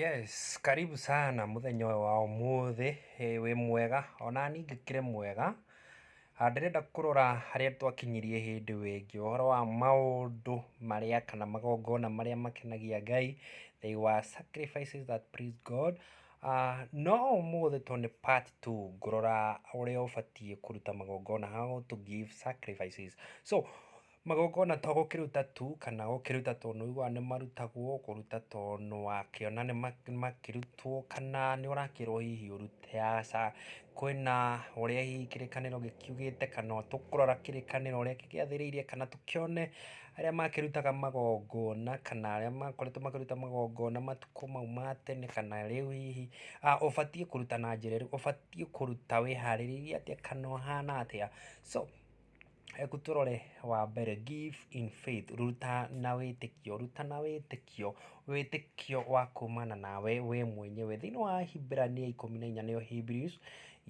Yes, karibu sana mũthenya ũyũ wa ũmũthĩ eh, wĩ mwega ona niĩ ngĩkĩrĩ mwega Ah, ndĩrenda kũrora harĩa twakinyirie hĩndĩ ĩyo ĩngĩ ũhoro wa maũndũ marĩa kana magongona marĩa makenagia ngai they were sacrifices that please god Ah, no ũmũthĩ to nĩ part two ngũrora ũrĩa ũbatiĩ kũruta magongona how to give sacrifices so Magongona to gũkĩruta tu kana gũkĩruta tondũ ũiguaga nĩ marutagwo, kũruta tondũ wakĩona nĩ makĩrutwo kana nĩ ũrakĩrwo hihi ũrute, aca. Kwĩna ũrĩa hihi kĩrĩkanĩro gĩkiugĩte kana tũkũrora kĩrĩkanĩro ũrĩa gĩgĩathĩrĩire kana tũkĩone arĩa makĩrutaga magongona kana arĩa makoretwo makĩruta magongona matukũ mau ma tene kana rĩu hihi. Ũbatiĩ kũruta na njĩra ĩrĩkũ, ũbatiĩ kũruta wĩharĩrĩirie atĩa kana ũhana atĩa so. Reke tũrore wa mbere give in faith ruta na wĩtĩkio, ruta na wĩtĩkio, wĩtĩkio wa kumana nawe we mwenyewe. Thĩinĩ wa Ahibirania ikũmi na inya nĩyo Hebrews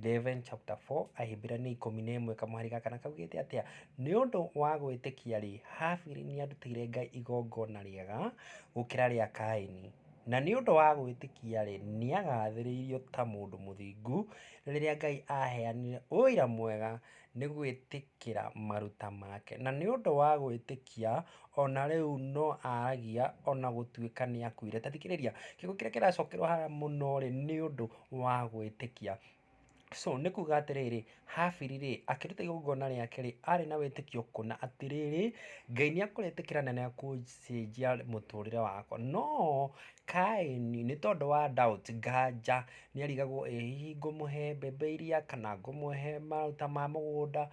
eleven chapter four, Ahibirania ikũmi na ĩmwe kamũhari gaka na kaugĩte atĩa? Nĩ ũndũ wa gwĩtĩkia-rĩ, Habili nĩarutĩire Ngai igongona rĩega gũkĩra rĩa Kaini, na nĩ ũndũ wa gwĩtĩkia-rĩ, nĩagathĩrĩirio ta mũndũ mũthingu rĩrĩa Ngai aheanire ũira mwega nĩ gwĩtĩkĩra maruta make. Na nĩ ũndũ wa gwĩtĩkia, o na rĩu no aragia o na gũtuĩka nĩ akuire. Ta thikĩrĩria, kiugo kĩrĩa kĩracokerwo haha mũno rĩ, nĩ ũndũ wa gwĩtĩkia. So, nĩ kuuga atĩrĩrĩ, Habili rĩ, akĩruta igongona rĩake rĩ, arĩ na wĩtĩkio kuona atĩrĩrĩ, Ngai nĩ ekũrĩtĩkĩra na nĩ ekũcenjia mũtũrĩre wakwa. No Kaini, nĩ tondũ wa doubt, nganja, Nĩarigagwo ĩ hihi ngũmũhe mbembe iria kana ngũmũhe mahuti ma mũgũnda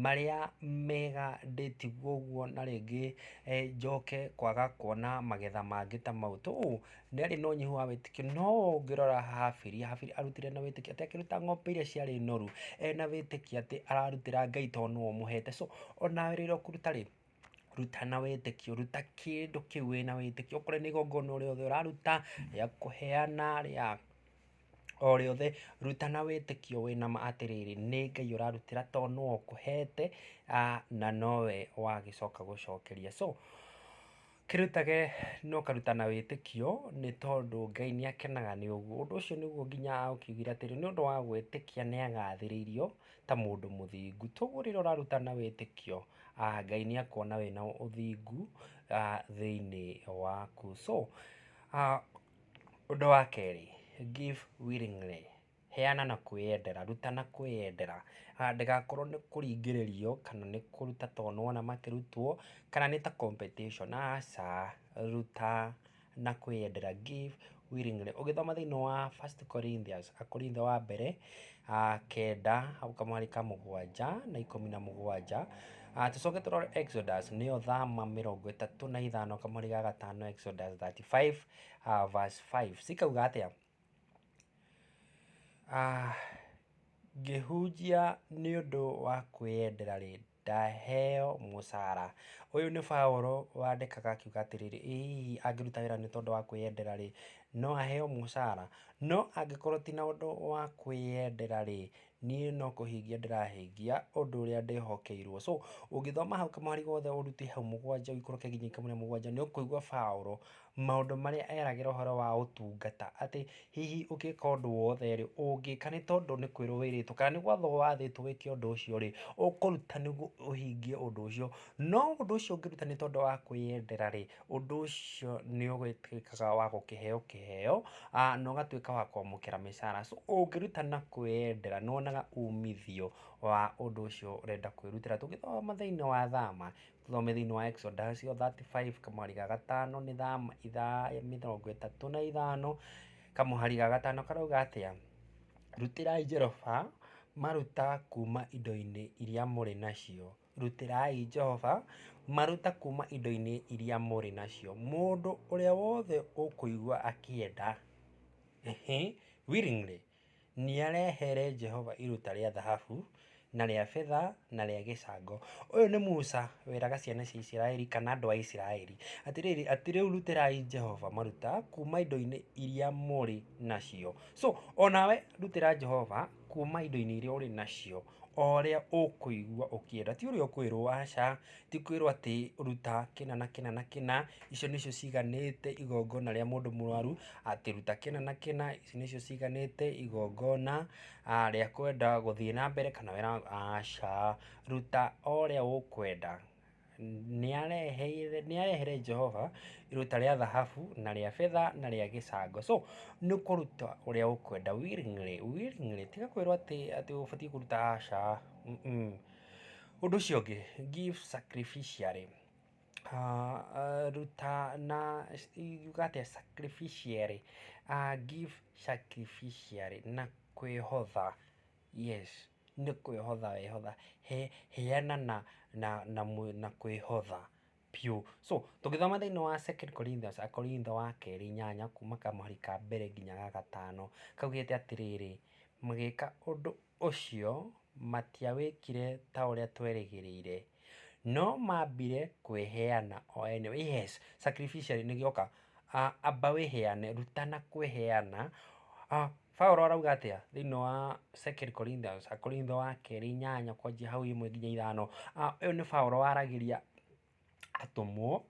marĩa mega ndĩtigwo ũguo na rĩngĩ njoke kwaga kuona magetha mangĩ ta mau. To ũũ nĩarĩ na ũnyihu wa wĩtĩkio no ũngĩrora Habiri, Habiri arutire na wĩtĩkio atĩ akĩruta ng'ombe iria ciarĩ noru ena wĩtĩkio atĩ ararutĩra Ngai tondũ nĩwe ũmũhete. So onawe rĩrĩa ũkũruta rĩ, ruta na wĩtĩkio, ruta kĩndũ kĩu wĩna wĩtĩkio, okorwo nĩ igongona o rĩothe ũraruta, rĩa kũheana, rĩa o rĩothe, ruta na wĩtĩkio wĩ nama atĩrĩrĩ, nĩ Ngai ũrarutĩra to nũũ ũkũhete, na nowe wagĩcoka gũcokeria. So, kĩrutage na ũkaruta na wĩtĩkio, nĩ tondũ Ngai nĩ akenaga nĩ ũguo. Ũndũ ũcio nĩguo nginya aũkiugire atĩrĩ, nĩ ũndũ wa gwĩtĩkia nĩ agathĩrĩirio. ta mũndũ mũthingu. Toguo rĩrĩa ũraruta na wĩtĩkio, Ngai nĩ akuona wĩ na ũthingu thĩinĩ waku. So, ũndũ wa kerĩ, give willingly, heana na kwĩyendera, ruta na kwĩyendera. Ndũgakorwo nĩ kũringĩrĩrio kana nĩ kũruta tondũ nĩ wona makĩrutwo, kana nĩ ta competition, aca, ruta na kwĩyendera, give willingly. Ũgĩthoma thĩinĩ wa First Corinthians, Akorintho wa mbere ah, kenda hau kamwarĩ ka mũgwanja na ikũmi na mũgwanja Ah, tũcoke tũrore Exodus nĩyo thama mĩrongo ĩtatũ na ithano kamwarĩ ga gatano Exodus 35 ah, verse 5 cikauga atĩa Ah, ngĩhunjia nĩ ũndũ wa kwĩyendera rĩ ndaheo mũcara. Ũyũ nĩ Paũlũ wandĩkaga akiuga atĩrĩrĩ, ĩ hihi angĩruta wĩra nĩ tondũ wa kwĩyendera rĩ, no aheo mũcara? No angĩkorwo ti na ũndũ wa kwĩyendera rĩ, niĩ no kũhingia ndĩrahingia ũndũ ũrĩa ndĩhokeirwo. So, ũngĩthoma hau kamũhari gothe ũrute hau mũgwanja ũikũrũke nginya ikũmi na mũgwanja nĩ ũkũigua Paũlũ maũndũ marĩa eragĩra ũhoro wa ũtungata, atĩ hihi ũngĩka ũndũ wothe rĩ, ũngĩka nĩ tondũ nĩ kwĩrwo wĩrĩtwo, kana nĩ gwathwo wathĩtwo wĩke ũndũ ũcio rĩ, ũkũruta nĩguo ũhingie ũndũ ũcio. No ũndũ ũcio ũngĩruta nĩ tondũ wa kwĩyendera rĩ, ũndũ ũcio nĩ ũgĩtuĩkaga wa gũkĩheo kĩheo, na ũgatuĩka wa kwamũkĩra mĩcara. So ũngĩruta na kwĩyendera nĩ wonaga umithio wa ũndũ ũcio ũrenda kwĩrutĩra. Tũngĩthoma thĩiniĩ wa Thama, Tũthome thĩinĩ wa Exodus o 35 kamũhari ga gatano nĩ thama ithaa mĩrongo ĩtatũ na ithano kamũhari ga gatano karauga atĩa? Rutĩrai Jehova maruta kuuma indo-inĩ iria mũrĩ nacio. Rutĩrai Jehova maruta kuuma indo-inĩ iria mũrĩ nacio. Mũndũ ũrĩa wothe ũkũigua akĩenda, ehe, willingly, nĩarehere Jehova iruta rĩa thahabu, na rĩa betha, na rĩa gĩcango. Ũyũ nĩ Musa weraga ciana cia Isiraeli kana andũ a Isiraeli, atĩrĩrĩ, atĩ rĩu rutĩrai Jehova maruta kuma indo-inĩ iria mũrĩ nacio. So, onawe rutĩra Jehova kuma indo-inĩ iria ũrĩ nacio. o ũrĩa ũkũigua ũkĩenda, ti ũrĩa ũkwĩrwo aca, ti kwĩrwo atĩ ruta kĩna na kĩna na kĩna, icio nĩcio ciganĩte igongona rĩa mũndũ mũrwaru, atĩ ruta kĩna na kĩna, ici nĩcio ciganĩte igongona rĩa kwenda gũthiĩ na mbere kana aca, ruta o ũrĩa ũkwenda. Nĩareheire Jehova iruta rĩa thahabu na rĩa betha na rĩa gĩcango. So nĩ kũruta ũrĩa ũkwenda willingly willingly tiga kwĩrwo atĩ ũbatiĩ kũruta aca. Ũndũ ũcio ũngĩ give sacrificially ruta na yuga atĩa sacrificially give sacrificially na kwĩhotha yes. Nĩ kwĩhotha wehotha, he, heana na, na, na, na kwĩhotha biũ. So, tũngĩthoma thĩiniĩ wa Second Corinthians, Akorintho wa kerĩ inyanya kuuma kamũhari ka mbere nginya ga gatano, kaugĩte atĩrĩrĩ, magĩka ũndũ ũcio, matiawĩkire ta ũrĩa twerĩgĩrĩire, no mambire kwĩheana o ene, yes, sacrificially nĩgĩo ka, amba wĩheane, rutana kwĩheana, Paulo arauga atĩa thĩinĩ wa Second Corinthians, Akorintho wa kerĩ inyanya kwanjia hau imwe nginya ithano. Ah, Ũyũ nĩ Paulo waragĩria atũmwo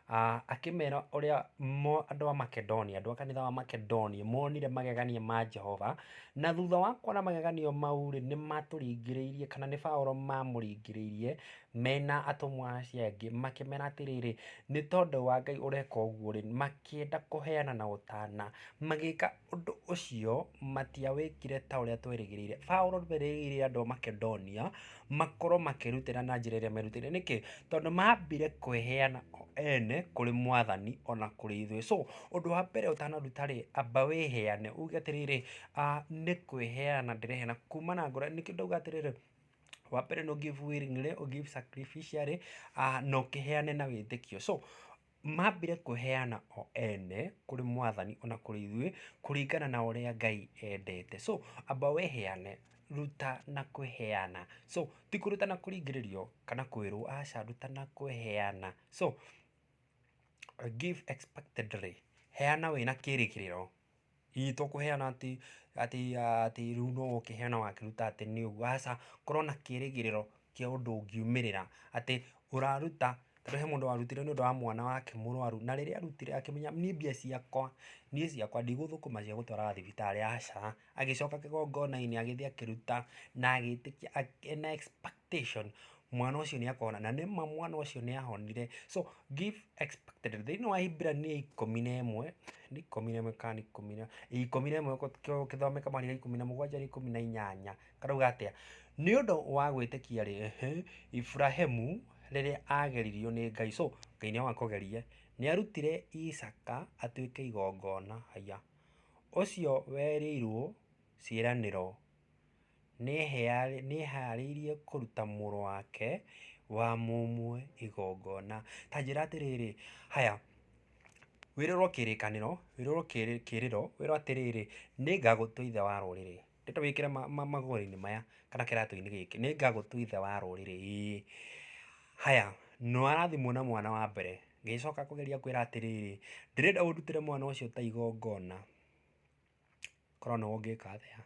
ah, akĩmera ũrĩa mo andũ a Makedonia, andũ a kanitha wa Makedonia monire magegania ma Jehova, na thutha wa kuona magegania mau-rĩ, nĩ matũringĩrĩirie kana nĩ Paulo mamũringĩrĩirie mena atũmwo acio angĩ makĩmera atĩrĩrĩ, nĩ tondũ wa Ngai ũreka ũguo-rĩ, makĩenda kũheana na ũtana, magĩka Ũndũ ũcio matiawĩkire ta ũrĩa twerĩgĩrĩire. Paulo erĩgĩrĩire andũ a Makedonia makorũo makĩrutĩra na njĩra ĩrĩa merutĩire. Nĩkĩ? Tondũ maambire kwĩheana o ene kũrĩ Mwathani o na kũrĩ ithuĩ. So, ũndũ wa mbere ũtanaruta-rĩ, amba wĩheane. Uge atĩrĩrĩ, nĩ kwĩheana ndĩreheana kuuma na ngoro. Nĩkĩo ndauga atĩrĩrĩ, wa mbere nĩ ũ give willingly, ũ give sacrificially, na ũkĩheane na wĩtĩkio. So, mambĩre kwĩheana o ene kũrĩ mwathani ona kũrĩ ithuĩ kũringana na ũrĩa Ngai endete. So amba wĩheane, ruta na kwĩheana. So ti kũruta na kũringĩrĩrio kana kwĩrwo aca ruta na kwĩheana. So give expectedly, heana wĩna kĩrĩgĩrĩro. Hihi tũkũheana atĩ atĩ atĩ rĩu no oke heana wakĩruta atĩ nĩ ũguo, aca. Korwo na kĩrĩgĩrĩro kĩa ũndũ ũngiumĩrĩra, atĩ ũraruta, tondũ he mũndũ warutire nĩ ũndũ wa mwana wake mũrwaru, na rĩrĩa arutire akĩmenya niĩ mbia ciakwa, niĩ ciakwa ndigũthũkũma cia gũtwara thibitarĩ, aca. Agĩcoka kĩgongona-inĩ agĩthiĩ akĩruta, na agĩtĩkia, ena expectation mwana ũcio nĩ akona, na nĩ ma mwana ũcio nĩ ahonire. So give expected result. Thĩinĩ wa Hibrania ikũmi na ĩmwe, nĩ ikũmi na ĩmwe kana nĩ ikũmi na, ikũmi na ĩmwe gũkĩthomeka mahinda rĩa ikũmi na mũgwanja rĩa ikũmi na inyanya, karauga atĩa? Nĩ ũndũ wa gwĩtĩkia rĩ, Iburahĩmu rĩrĩa ageririo nĩ Ngai, so Ngai nĩ wakũgeria, nĩ arutire Isaka atuĩke igongona, haiya, ũcio werĩirwo ciĩranĩro. nĩeharĩirie kũruta mũrũ wake wa mũmwe igongona. Ta njĩra atĩrĩrĩ, haya, wĩrĩrwo kĩrĩkanĩro, wĩrĩrwo kĩrĩro, wĩrwo atĩrĩrĩ, nĩngagũtua ithe wa rũrĩrĩ, ndeto wĩkĩre magũrũ-inĩ maya, kana kĩratũ-inĩ gĩkĩ, nĩngagũtua ithe wa rũrĩrĩ ĩĩ. Haya, nĩwarathimwo na mwana wa mbere, ngĩcoka kũgeria kwĩra atĩrĩrĩ, ndĩrenda ũndutĩre mwana ũcio ta igongona. Korwo nĩwe ũngĩka atĩa?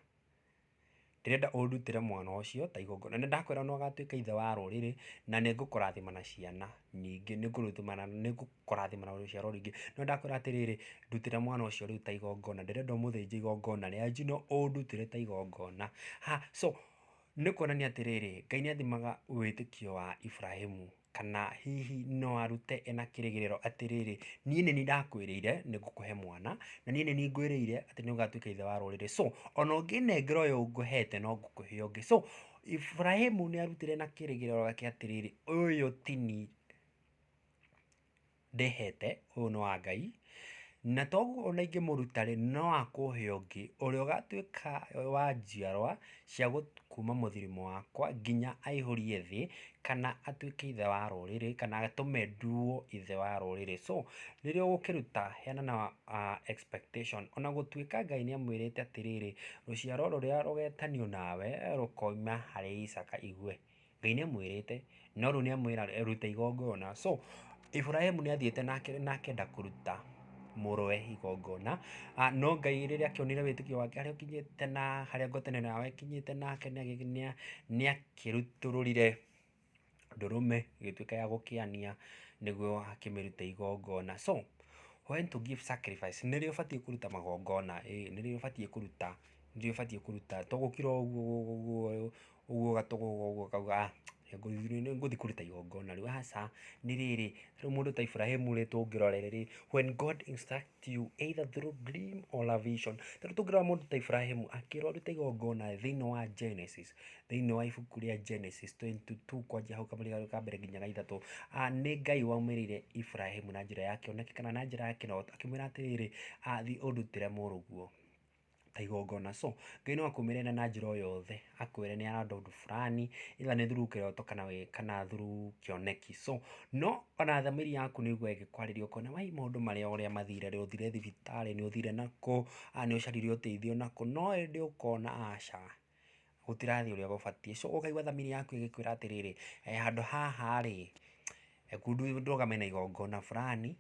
Ndĩrenda ũndutĩre mwana ũcio ta igongona. Nĩ ndakwĩra nĩ ũgatuĩka ithe wa rũrĩrĩ, na nĩ ngũkũrathima na ciana nyingĩ. Nĩ ngũkũrathima na rũciaro rũingĩ. No nĩ ndakwĩra atĩrĩrĩ, ndutĩra mwana ũcio rĩu ta igongona. Ndĩrenda ũmũthĩnje igongona rĩa njino ũndutĩre ta igongona. Ha, so, nĩ kuonania atĩrĩrĩ, Ngai nĩ athimaga wĩtĩkio wa Ibrahĩmu. Kana hihi no arute ena kĩrĩgĩrĩro atĩ rĩrĩ, niĩ nĩ niĩ ndakwĩrĩire nĩ ngũkũhe mwana, na niĩ nĩ niĩ ngwĩrĩire atĩ nĩ ũgatuĩka ithe wa rũrĩrĩ. So ona ũngĩnengera ũyũ ngũhete no ngũkũhe ũngĩ. So Iburahĩmu nĩ arutire na kĩrĩgĩrĩro gĩake atĩrĩrĩ, ũyũ ti niĩ. ndĩhete, ũyũ nĩ wa Ngai, na toguo ona ingĩmũruta rĩ, no akũhe ũngĩ, ũrĩa ũgatuĩka wa njiarwa cia kuma mũthuri-inĩ wakwa nginya aihũrie thĩ, kana atuĩke ithe wa rũrĩrĩ, kana atũme nduo ithe wa rũrĩrĩ. So rĩrĩa ũgũkĩruta heana na expectation, ona gũtuĩka Ngai nĩ amwĩrĩte atĩrĩrĩ, rũciaro rũrĩa rũgetanio nawe rũkoima harĩ Isaaka. Ngai nĩ amwĩrĩte, no rĩu nĩ amwĩra ruta igongona. So Iburahĩmu nĩ athiĩte na akenda kũruta mũrũwe igongona, no Ngai rĩrĩa akĩonire wĩtĩkio wake harĩa ũkinyĩte na harĩa ngwatanĩro ĩno yao ĩkinyĩte nake nĩ akĩrutũrũrire ndũrũme ĩgĩtuĩka ya gũkĩania nĩguo akĩmĩrute igongona. So when to give sacrifice nĩ rĩo ũbatiĩ kũruta magongona, ĩĩ nĩ rĩo ũbatiĩ kũruta, nĩ rĩo ũbatiĩ kũruta. To gũkira o ũguo. Ũguo gatũgũga ũguo kauga ah nĩngũthiĩ kũruta igongona rĩu. Aca, nĩ rĩrĩ, rĩu mũndũ ta Iburahĩmu rĩ tũngĩrorere rĩ, when God instruct you either through dream or a vision. Ta rĩu tũngĩrora mũndũ ta Iburahĩmu akĩra ũrute igongona thĩinĩ wa Genesis, thĩinĩ wa ibuku rĩa Genesis twenty two kwanjia hau kamũira ka mbere nginya ga ithatũ, nĩ Ngai waumĩrĩire Iburahĩmu na njĩra ya kĩoneki kana na njĩra ya kĩroto akĩmwĩra atĩrĩrĩ, thiĩ ũndutĩre mũrũguo. ta igongona so Ngai no akũmenyerere na njĩra o yothe akwĩre nĩ arenda ũndũ burani either nĩ through kĩroto kana through kĩoneki so no ona thamiri yaku nĩ ũigũe ĩgĩkwarĩria ũkone wai maũndũ marĩa ũrĩa mathire rĩ ũthire thibitarĩ nĩ ũthire nakũ aa nĩ ũcarire ũteithio nakũ no ĩndĩ ũkona aca gũtirathiĩ ũrĩa gũbatiĩ so ũkaigua thamiri yaku ĩgĩkwĩra atĩrĩrĩ handũ haha rĩ ndũgame na igongona burani.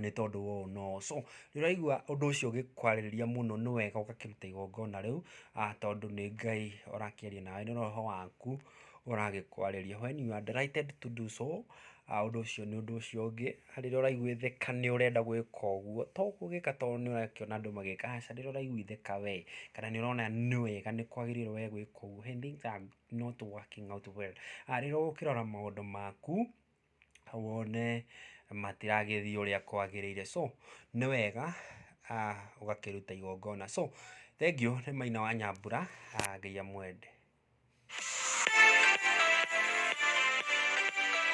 nĩ tondũ wa ũũ na ũũ. So nĩ ũraigua ũndũ ũcio ũgĩkwarĩrĩria mũno nĩ wega ũgakĩruta igongona rĩu tondũ nĩ Ngai ũrakĩaria nawe, nĩ roho waku ũragĩkwarĩria. When you are directed to do so ũndũ ũcio nĩ ũndũ ũcio ũngĩ, rĩrĩa ũraiguĩthĩka nĩ ũrenda gwĩka ũguo, to gũgĩka tondũ nĩ ũrakĩona andũ magĩka, aca, rĩrĩa ũraiguĩthĩka we kana nĩ ũrona nĩ wega nĩ kwagĩrĩire we gwĩka ũguo, when things are not working out well, rĩrĩa ũgũkĩrora maũndũ maku. wone matiragĩthiĩ ũrĩa kwagĩrĩire. So nĩ wega ũgakĩruta igongona. So thengiũ nĩ Maina wa Nyambura, Ngai amwende.